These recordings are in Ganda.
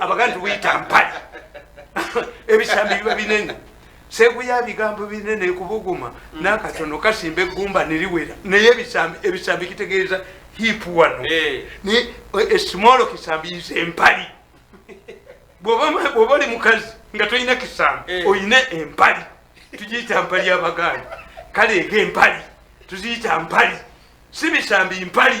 abaganda tubuyita mpale ebisambi biba binene seguya bigambo binene kubuguma mm. nakatono kasimba eggumba neriwera naye ebisambi kitegeeza hip wano eh. esimolo eh, kisambi yiza empali bwoba oli mukazi nga tolina kisambi eh. olina empali tugiyita mpali abaganda kale ega empali tuziyita mpali si bisambi mpali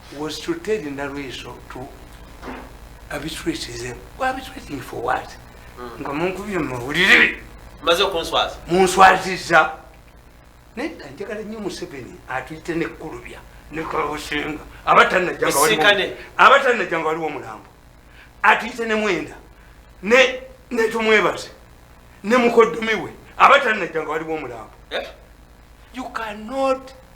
was to tell Nalweso to arbitrate them. We're arbitrating for what? Hmm. Nga munkubye mawulire. Maze okunswaza. Munswaziza. Nedda njagala nnyo Museveni atuyite ne kulubya ne kabusinga abatanajjanga waliwo abatanajjanga waliwo omulambo atuyite ne mwenda ne ne tumwebaze ne mukoddomi we abatanajjanga waliwo omulambo. Eh? You cannot